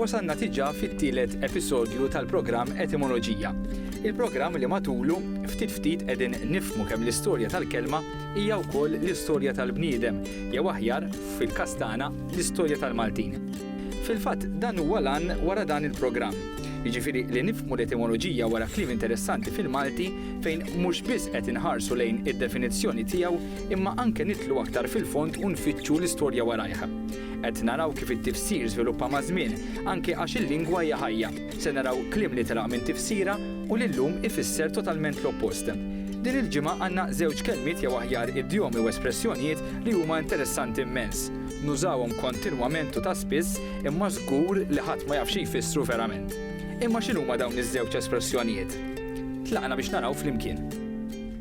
Wasalna diġà fit-tielet episodju tal-programm Etimoloġija. Il-programm li matulu, ftit ftit qegħdin nifhmu kemm l-istorja tal-kelma hija wkoll l-istorja tal-bniedem, jew aħjar, fil-każ tagħna, l-istorja tal-Maltin. Fil-fatt, dan huwa l-għan wara dan il-programm, jiġifieri li nifhmu l-etimoloġija wara kliem interessanti fil-Malti fejn mhux biss qed inħarsu lejn id-definizzjoni tiegħu imma anke nidħlu aktar fil-fond u nfittxu l-istorja warajh. Qed naraw kif it-tifsir żviluppa maż-żmien, anke għax il-lingwa hija ħajja. Se naraw kliem li telaq minn tifsira u li llum ifisser totalment l-oppost. Din il-ġimgħa għandna żewġ kelmiet jew aħjar idjomi u espressjonijiet li huma interessanti immens. Nużawhom kontinwament u ta' spiss imma żgur li ħadd ma jaf xi jfissru verament. Imma x'inhuma dawn iż-żewġ espressjonijiet? Tlaqna biex naraw flimkien.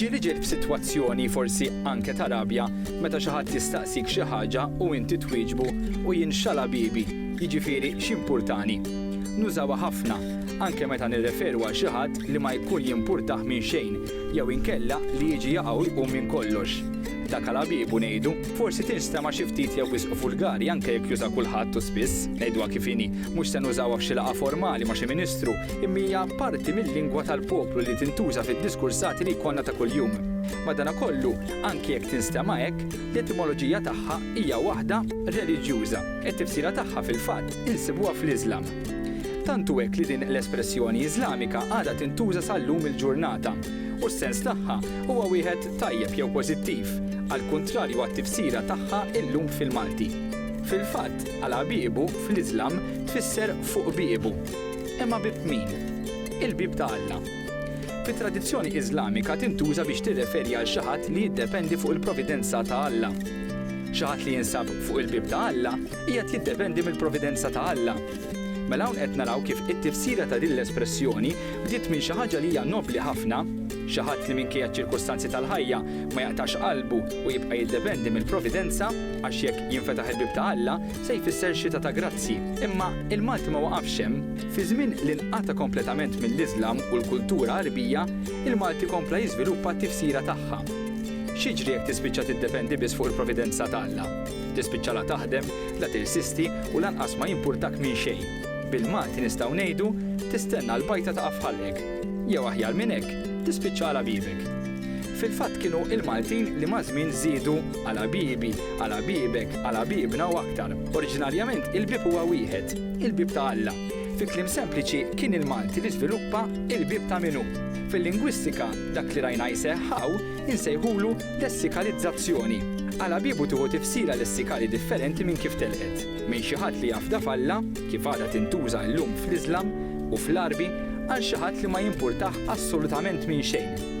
Ġieli ġiet f'sitwazzjoni forsi anke ta' rabja meta xi ħadd jistaqsik xi ħaġa u inti twieġbu u jien x'għala bibi, jiġifieri x'impurtani. Nużawha ħafna, anke meta nirreferu għal xi ħadd li ma jkun jimpurtah minn xejn jew inkella li jiġi jaqa' u jqum minn kollox. Dak għala bibu, ngħidu, forsi tinstema' xi ftit jew wisq vulgari anke jekk juża kulħadd u spiss, ngħiduha kif inhi, mhux se nużawha f'xi laqgħa formali ma' xi ministru imma hija parti mil-lingwa tal-poplu li tintuża fid-diskursati li jkollna ta' kuljum. Madanakollu, anki jekk tinstema' hekk, l-etimoloġija tagħha hija waħda reliġjuża. It-tifsira tagħha fil-fatt insibuha fl-Iżlam. Tant hu hekk li din l-espressjoni Iżlamika għadha tintuża sal-lum il-ġurnata, u s-sens tagħha huwa wieħed tajjeb jew pożittiv, għall-kuntrarju għat-tifsira tagħha llum fil-Malti. Fil-fatt, għal għabiebu, fl-Iżlam, tfisser fuq biebu. Imma bieb min? Il-bieb ta' Alla. Fit-tradizzjoni Iżlamika tintuża biex tirreferi għal xi ħadd li jiddependi fuq il-providenza ta' Alla. Xi ħadd li jinsab fuq il-bieb ta' Alla qiegħed jiddependi mill-providenza ta' Alla. Mela hawn qed naraw kif it-tifsira ta' din l-espressjoni bdiet minn xi ħaġa li hija nobbli ħafna, xi ħadd li minkejja ċ-ċirkustanzi tal-ħajja ma jaqtax qalbu u jibqa' jiddependi mill-providenza għax jekk jinfetaħ il-bieb ta' Alla, se jfisser xita ta' grazzi, imma il-Malti ma waqafx hemm. Fi żmien li nqata' kompletament mill-Iżlam u l-kultura Għarbija, il-Malti kompla jiżviluppa t-tifsira tagħha. X'jiġri jekk tispiċċa tiddependi biss fuq il-providenza ta' Alla? Tispiċċa la taħdem, la tirsisti u lanqas ma jimpurtak minn xejn. Bil-Malti nistgħu ngħidu, tistenna l-bajta taqa' f'ħalqek. Jew aħjar minn hekk, tispiċċa għala bibek. Fil-fatt kienu l-Maltin li maż-żmien żiedu għala bibi Għala biebek, għala biebna u aktar. Oriġinarjament il-bieb huwa wieħed, il-bieb ta' Alla. Fi kliem sempliċi, kien il-Malti li żviluppa il-bieb ta' min hu. Fil-lingwistika, dak li rajna jseħħ hawn insejħulu lessikalizzazzjoni. Għala biebu tieħu tifsira lessikali differenti minn kif telqet. Minn xi ħadd li jafda f'Alla, kif għadha tintuża llum fl-Iżlam u fl-Għarbi, għal xi ħadd li ma jimpurtah assolutament minn xejn.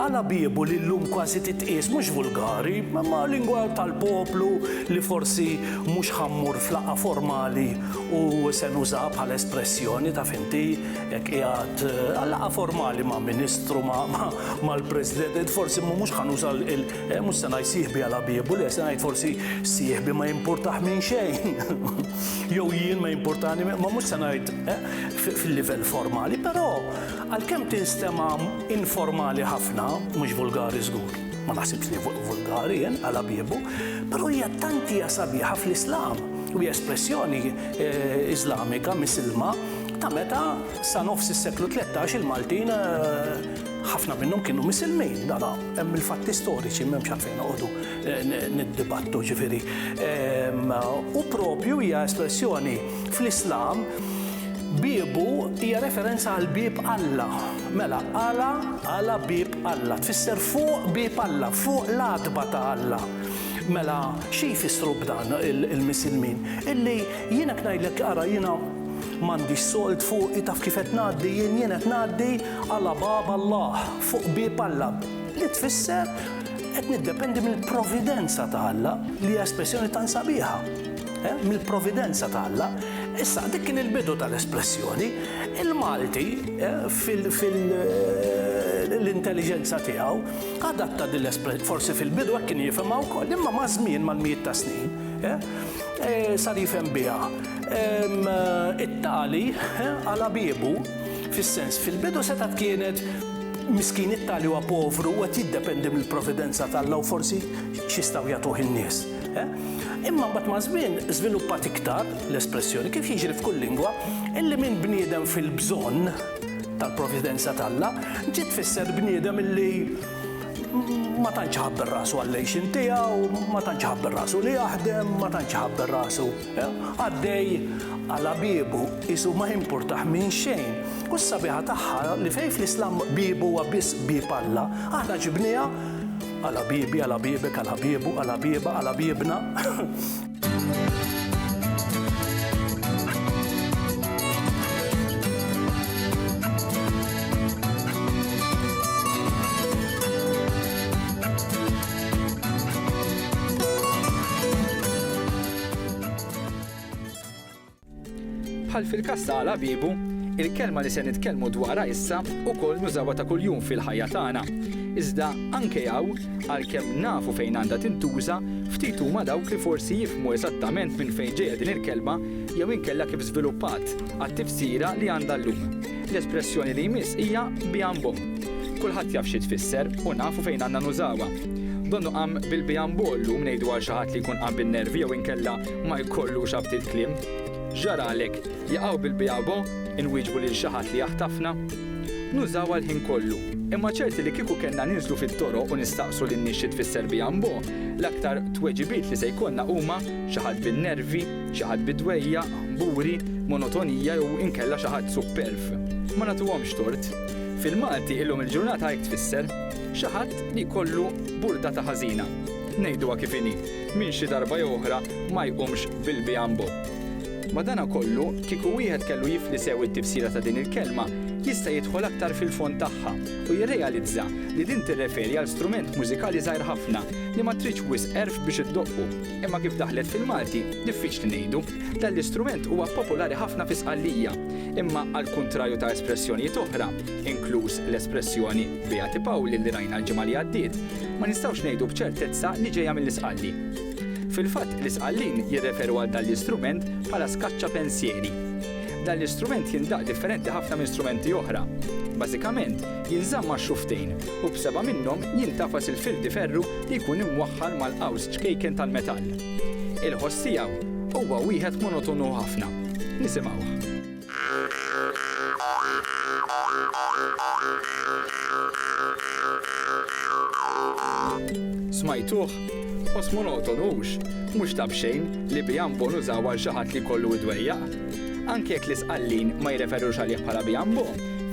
Għala biebu li llum kważi titqies mhux vulgari, imma lingwa tal-poplu li forsi mhux ħa mmur f'laqgħa formali u se nużaha bħala espressjoni, taf inti, jekk qiegħed għal laqgħa formali ma' Ministru, ma' mal-President, forsi mhux ħa nuża Mhux se ngħid sieħbi għal ħabiebu, le, se ngħid forsi sieħbi ma jimpurtah minn xejn. Jew jien ma jimpurtani, ma mhux se ngħid eh, fil-livell formali, però għalkemm tinstema' informali ħafna, mhux vulgari żgur, ma naħsibx li vulgari jien għal ħabiebu, però hija tant hija sabiħa fl-Islam u hija espressjoni eh, Iżlamika, Misilma, ta' meta sa nofs is-seklu 13 il-Maltin eh, Ħafna minnhom kienu misilmin, dan hemm il-fatti storiċi m'hemmx għalfejn noqogħdu eh, niddibattu ġifieri. Ehm, u propju hija espressjoni fl-Islam biebu hija referenza għal bib Alla. Mela, għala għala bib Alla, tfisser fuq bib Alla, fuq l-adba ta' Alla. Mela, xi jfissru b'dan il-misilmin? Illi jiena ngħidlek ara jiena m'għandix solt fuq taf kif qed ngħaddi jien jien qed ngħaddi Ala Bab Allah, fuq bieb Alla, li tfisser qed niddependi mill-providenza ta' Alla, li hija espressjoni tant sabiħa. Eh, mill-providenza ta' Alla. Issa, dik kien il-bidu tal-espressjoni. Il-Malti, eh, fil, fil, eh, l-intelliġenza tiegħu, adatta din l-espressjoni. Forsi fil-bidu hekk kien jifhimha wkoll, imma maż-żmien, mal-mijiet ta' snin, eh, eh, sar jifhem biha. Ehm, it-tali, eh, għala biebu. Fis-sens, fil-bidu setgħet kienet miskin it-tali huwa povru u qed jiddependi mill-providenza t'Alla u forsi x'jistgħu jagħtuh in-nies. Eh? Imma mbagħad maż-żmien żviluppat iktar l-espressjoni, kif jiġri f'kull lingwa, illi minn bniedem fil-bżonn tal-providenza t'Alla ġiet tfisser bniedem illi ma tantx iħabber rasu għall-għejxien tiegħu, ma tantx iħabber rasu li jaħdem, ma tantx iħabber rasu. Għaddej għala biebu, qisu ma jimpurtah minn xejn. U s-sabiħa tagħha li fejn fl-Islam bieb huwa biss bieb Alla, aħna ġibnieha għala biebi, għala biebek, għala biebu, għala bieba, għala biebna. Bħal fil-każ ta' Għala Biebu, il-kelma li se nitkellmu dwarha issa wkoll nużawha ta' kuljum fil-ħajja tagħna. Iżda anke hawn, għalkemm nafu fejn għandha tintuża, ftit huma dawk li forsi jifhmu eżattament minn fejn ġejja din il-kelma jew inkella kif żviluppat għat-tifsira li għandha llum. L-espressjoni li jmiss hija biambo. Kulħadd jaf xi tfisser u nafu fejn għandna nużawha. Donnu qam bil-biambo llum ngħidu għal xi ħadd li jkun qam bin-nervi jew inkella ma jkollux abtiet kliem. X'ġaralek? Jaqaw bil-biabo? inwieġbu lil xi ħadd li jaħtafna. Nużawha l-ħin kollu. Imma ċerti li kieku kellna ninżlu fit-toroq u nistaqsu lin-nies xi tfisser biambo, l-aktar tweġibiet li se jkollna huma xi ħadd bin-nervi, Xi ħadd bi dwejjaq, buri, monotonija jew inkella xi ħadd supperv. Ma nagħtuhomx tort. Fil-Malti illum il-ġurnata hekk tfisser, xi ħadd li jkollu burdata ħażina. Ngħiduha kif inhi, min xi darba jew oħra ma jqumx bil-bianbo. Madanakollu, kieku wieħed kellu jifli sew it-tifsira ta' din il-kelma, jista' jidħol aktar fil-fond tagħha u jirrealizza li din tirreferi għal strument mużikali żgħir ħafna li ma tridx wisq għerf biex iddoqqu. Imma kif daħlet fil-Malti, diffiċli ngħidu. Dan l-istrument huwa popolari ħafna fi Sqallija. Imma għall-kuntrarju ta' espressjonijiet oħra, inkluż l-espressjoni Beati Pauli li rajna l-ġimgħa li għaddiet, ma nistgħux ngħidu b'ċertezza li ġejja mill-Isqalli. Fil-fatt, l-Isqallin jirreferu għal dan l-istrument bħala skaċċa pensieri. Dan l-istrument jindaqq differenti ħafna minn strumenti oħra. Bażikament, jinżamm ma' xufftejn u b'seba' minnhom jintafas il-fil di ferru li jkun imwaħħal mal-qaws ċkejken tal-metall. Il-ħoss tiegħu huwa wieħed monotonu ħafna. Nisimgħuh. Smajtuh? Ħoss monotonu hux? Mhux ta' b'xejn li bijambo nużaw għal xi ħadd li jkollu id-dwejjaq. Anke jekk l-Isqallin ma jirreferux għalih bħala bijambo.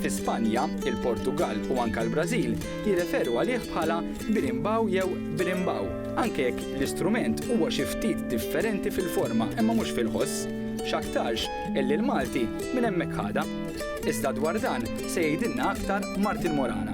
Fi Spanja, il-Portugall u anke l-Brażil jirreferu għalih bħala birimbau jew birimbau, anke jekk l-istrument huwa xi ftit differenti fil-forma imma mhux fil-ħoss. X'aktarx illi l-Malti minn hemmhekk ħadha. Iżda dwar dan se jgħidilna aktar Martin Morana.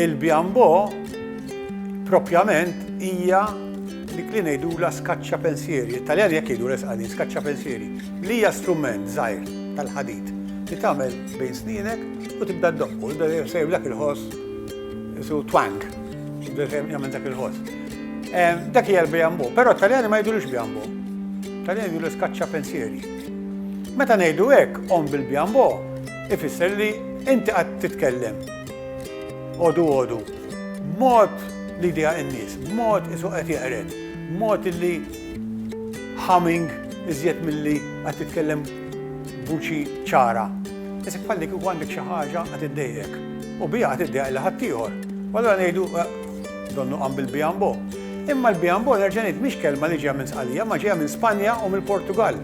Il-bjambo propjament hija dik li ngħidula skaċċa pensieri, it-Taljan jekk jgħidu resqani, skaċċa pensieri, li hija strument żgħir tal-ħadid li tagħmel bejn snienek u tibda ddoqqu, tibda sejr dak il-ħoss isu twang, tibda sejr jagħmel dak il-ħoss. Dak hija l-bjambo, però t-Taljani ma jgħidulux bjambo. Taljani jgħidu skaċċa pensieri. Meta ngħidu hekk, omm bil-bjambo, ifisser li inti qatt titkellem għodu għodu, b'mod li jdejjaq in-nies, b'mod isu qed jeqred, b'mod illi humming iżjed milli qed titkellem b'vuċi ċara. Isib bħal li kieku għandek xi ħaġa qed iddejjqek u biha qed iddejjaq lil ħaddieħor. U allura ngħidu, Donnu qam bil-bianbo. Imma l-bianbo, nerġa' ngħid, mhix kelma li ġejja minn Sqallija, imma ġejja minn Spanja u mill-Portugall.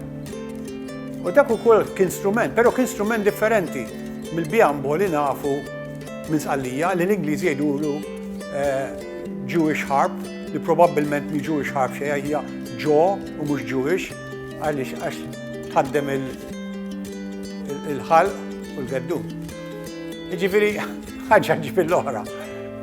U dak ukoll kien strument, però kien strument differenti mill-bianbo li nafu minn Sqallija, li l-Ingliżi jgħidulu Jewish harp, li probabbilment mhi Jewish harp xejn, hija Jew u mhux Jewish, għaliex għax tħaddem il-ħalq u l-geddun. Jiġifieri, ħaġa ġieb l-oħra.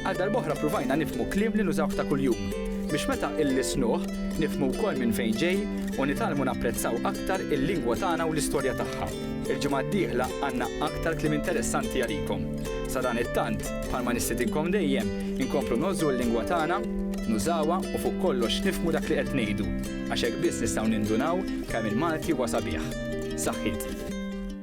Għal darb'oħra pruvajna nifhmu kliem li nużawh ta' kuljum, biex meta illisnuh, nifhmu wkoll minn fejn ġej u nitgħallmu napprezzaw aktar il-lingwa tagħna u l-istorja tagħha. Il-ġimgħa d-dieħla għandna aktar kliem interessanti għalikom. Sadanittant, bħalma nistidinkom dejjem, inkomplu ngħożżu l-lingwa tagħna, nużawha u fuq kollox nifhmu dak li qed ngħidu, għax hekk biss nistgħu nindunaw kemm il-Malti huwa sabiħ. Saħħiet.